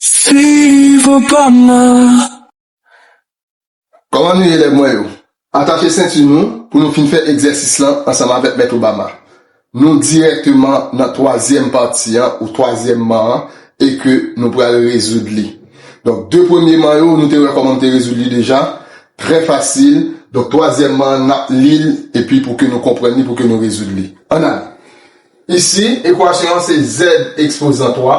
Si vou pa man. Kòman nou ye elèv mwen yo? Atache senti nou pou nou fin fè egzèsis lan ansanm avèk Mèt Obama. Nou dirèkteman nan twazyèm pati an ou twazyèm man an e ke nou pral rezoud li. Donk 2 premye man yo nou te wè kòman m te rezoud li deja, trè fasil, donk twazyèm man an n ap li l epi pou ke nou konprann li pou ke nou rezoud li. Ann ale! Isi, ekwasyon an se zèd ekspozan 3.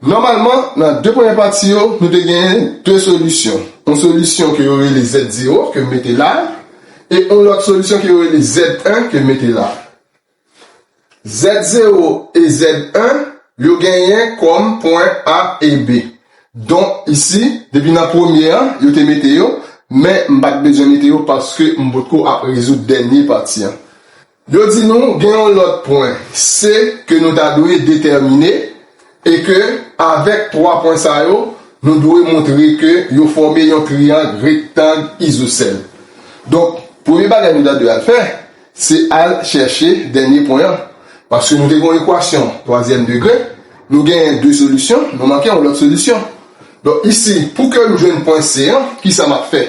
Nòmalman, nan de premye pati yo, nou te genyen de solisyon. Yon solisyon ke yo rele Z0, ke m mete la a, e yon lòt solisyon ke yo rele Z1, ke m mete la a. Z0 e Z1, yo genyen kòm pwen A e B. Donk, isi, depi nan premye an, yo te mete yo, men m pa t bezwen mete yo paske m potko ap rezoud dènye pati an. Yo di nou gen yon lòt pwen se ke nou ta dwe detèmine e ke avèk 3 pwen sa yo nou dwe montre ke yo fòme yon triyang rektang izosèl. Donk, premye bagay nou ta dwe al fè se al chèche dènye pwen an. Paske nou te gen yon ekwasyon twazyèm degre, nou genyen 2 solisyon, nou manke yon lòt solisyon. Donk isi, pou ke m jwenn pwen C an, kisa m ap fè?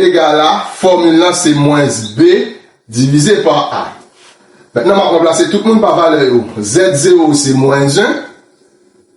Egal a, fòmil lan se mwens B divize pa A. Mentnan m ap ranplase tout moun pa valè yo. Z0 se mwens 1,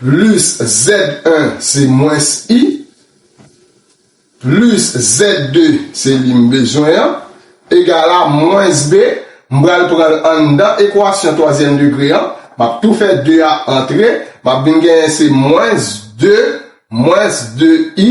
plis Z1 se mwens I, plis Z2 se li m bezwen an, egal a mwens B, m pral pran l anndan ekwasyon twazyèm degre an, m ap tou fè 2 a antre, m ap vin genyen se mwens 2 mwens 2i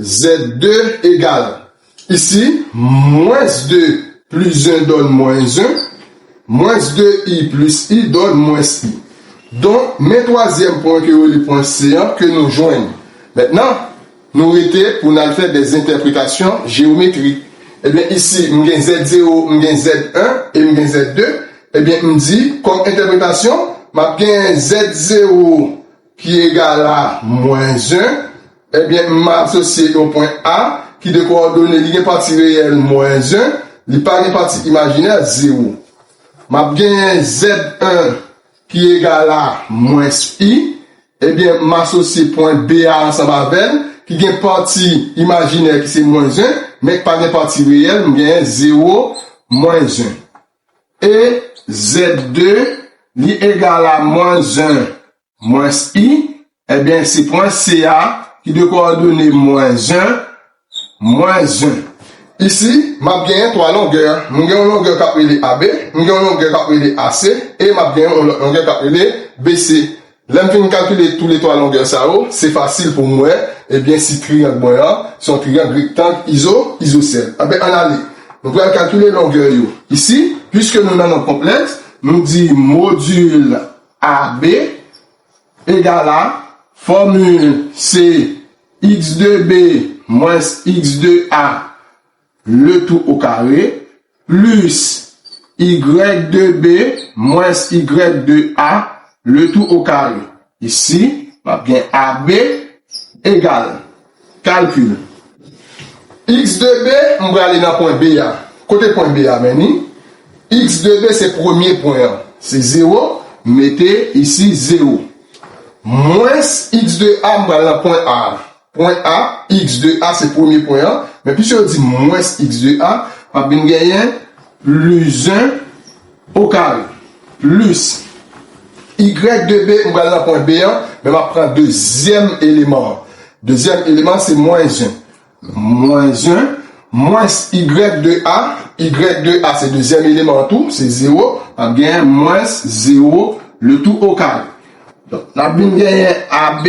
Z2 egal, isi, mwens 2 plis 1 dòn mwens 1, mwens 2 i plis i dòn mwens i. Donk, men twazyèm pwen ke yo rele pwen C an ke nou jwenn. Mètnan, nou rete pou n al fè dè zentèpretasyon jeyometrik. Ebyen, isi, m gen Z0, m gen Z1 e m gen Z2. Ebyen, m di, kòm entèpretasyon, m ap gen Z0. ki egal a mwens 1, ebyen m asosye yon pwen A ki de kowòdone li gen pati reyèl mwens 1, li pa gen pati imajinè, zewo. M ap genyen Z1 ki egal a mwens I, ebyen m asosye pwen B a ansanm avè l, ki gen pati imajinè ki se mwens 1, men k pa gen pati reyèl, m genyen zewo, mwens 1. E zèd de li egal a mwens 1 mwens i, ebyen se pwen se a ki de kowòdone mwens 1, mwens 1. Isi, m ap genyen 3 longè. M gen yon longè k ap rele AB, m gen yon longè k ap rele AC, e m ap genyen yon lòt longè k ap rele BC. Lè m fin kalkile tou le 3 longè sa yo, se fasil pou m wè ebyen si triyang mwen an se yon triyang rektang izo izosèl. Anben ann ale. Nou pral kalkile longè yo. Isi, piske nou nan nonb konplèks, nou di modil AB egal a fòmil se x de B mwens x de A Le tou o kare, plis y de b, mwens y de a, le tou o kare. Isi, m ap gen ab egal, kalkil, x de b, m prale nan pwen B a. Kote pwen B a mennen? X de B se premye pwen an, se zewo, m mete isi zewo. Mwens x de a, m prale nan pwen A a. Pwen a, x de a se premye pwen an, men pise yo di mwens x de a, m ap vin genyen plis 1 o kare, plis y de b, m pral nan pwen b an, men m ap pran dezyèm eleman an. Dezyèm eleman an se mwens 1. Mwens 1, mwens y de a, y de a se dezyèm eleman an tou, se 0, m ap genyen mwens 0 le tou o kare. Donk, n ap vin genyen AB.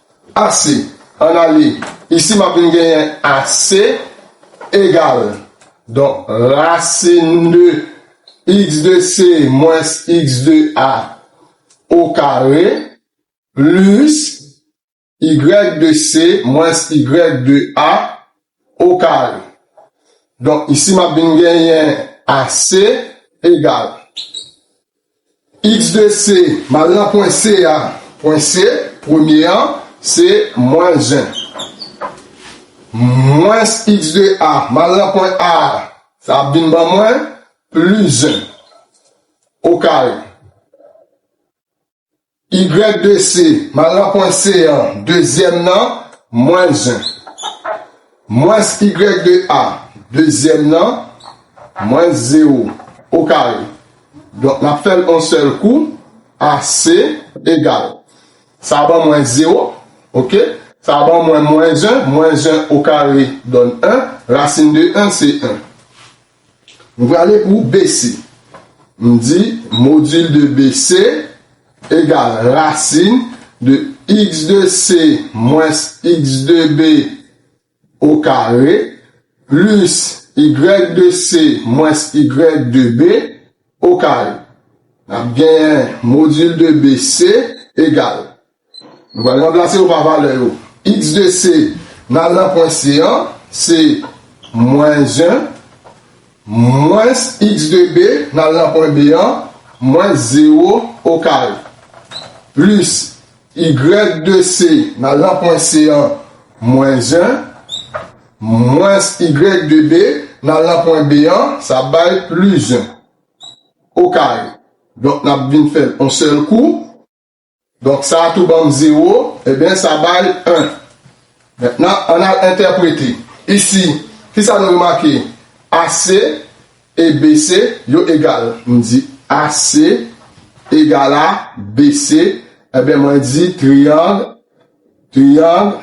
Ase. An n ale. Isi m ap vin genyen ase egal. Donk rasin de x de se mwens x de a okare plis y de se mwens y de a okare. Donk, isi m ap vin genyen AC egal x de C, m al nan pwen C a, pwen C, premye an, se mwens 1, mwens x de A, m al nan pwen A a, sa ap vin ban mwen plis 1, okare. YDC, Mal nan pwen C an, dezyèm nan, mwens 1. Mwens YDA, dezyèm nan, mwens zewo, okare. Donk, n ap fè l on sèl kou, AC egal. Sa ban mwen zewo, oke. Sa ban mwen mwens 1, mwens 1 okare donn 1, rasin de 1 se 1. M prale pou BC. M di modil de BC egal rasin de x de C mwens x de B o kare plis y de C mwens y de B o kare. N ap genyen modil de BC egal. Nou pral ranplase yo pa valè yo. X de C nan al nan pwen C an, se mwen 1, mwens X de B nan al nan pwen B an, mwen 0 o kare, plis Y de C nan al nan pwen C an, mwen 1, mwens Y de B nan al nan pwen B an, sa ap bay plis 1 o kare. Donk n ap vin fè l on sèl kou. Donk sa a tou ban m zewo, enben sa bay 1. Mentnan, ann al entèprete. Isi, ki sa nou remake? AC e BC yo egal. M di AC egal a BC, enben mwen di triyang, triyang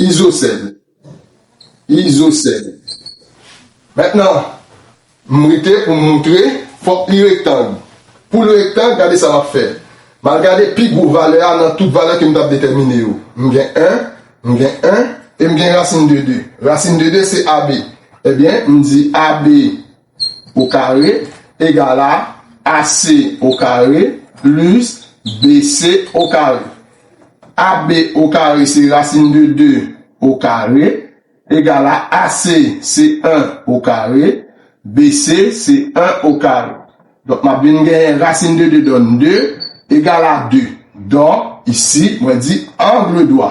izosèl. Izosèl. Mentnan, m rete pou m moutre, fòk li rektang. Pou l rektang, gade sa m ap fè. M al gade pi gwo valè a nan tout valè ke m t ap detèmine yo. M gen 1, m gen 1, e m gen rasin de 2. Rasin de 2 se AB. Ebyen, m di AB. o kare egal a AC o kare plis BC o kare. AB o kare se rasin de 2 o kare egal a AC se 1 o kare BC se 1 o kare. Donk m ap vin genyen rasin de 2 donn 2 egal a 2. Donk isi mwen di angle dwa.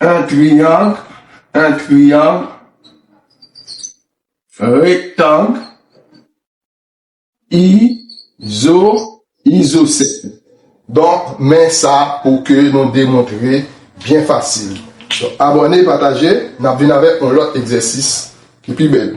Un triangle Un triangle Rectangle Izo Isocèle Donk men sa pou ke nou demontre byen fasil. Abòne, pataje, n ap vin avèk yon lòt egzèsis ki pi bèl.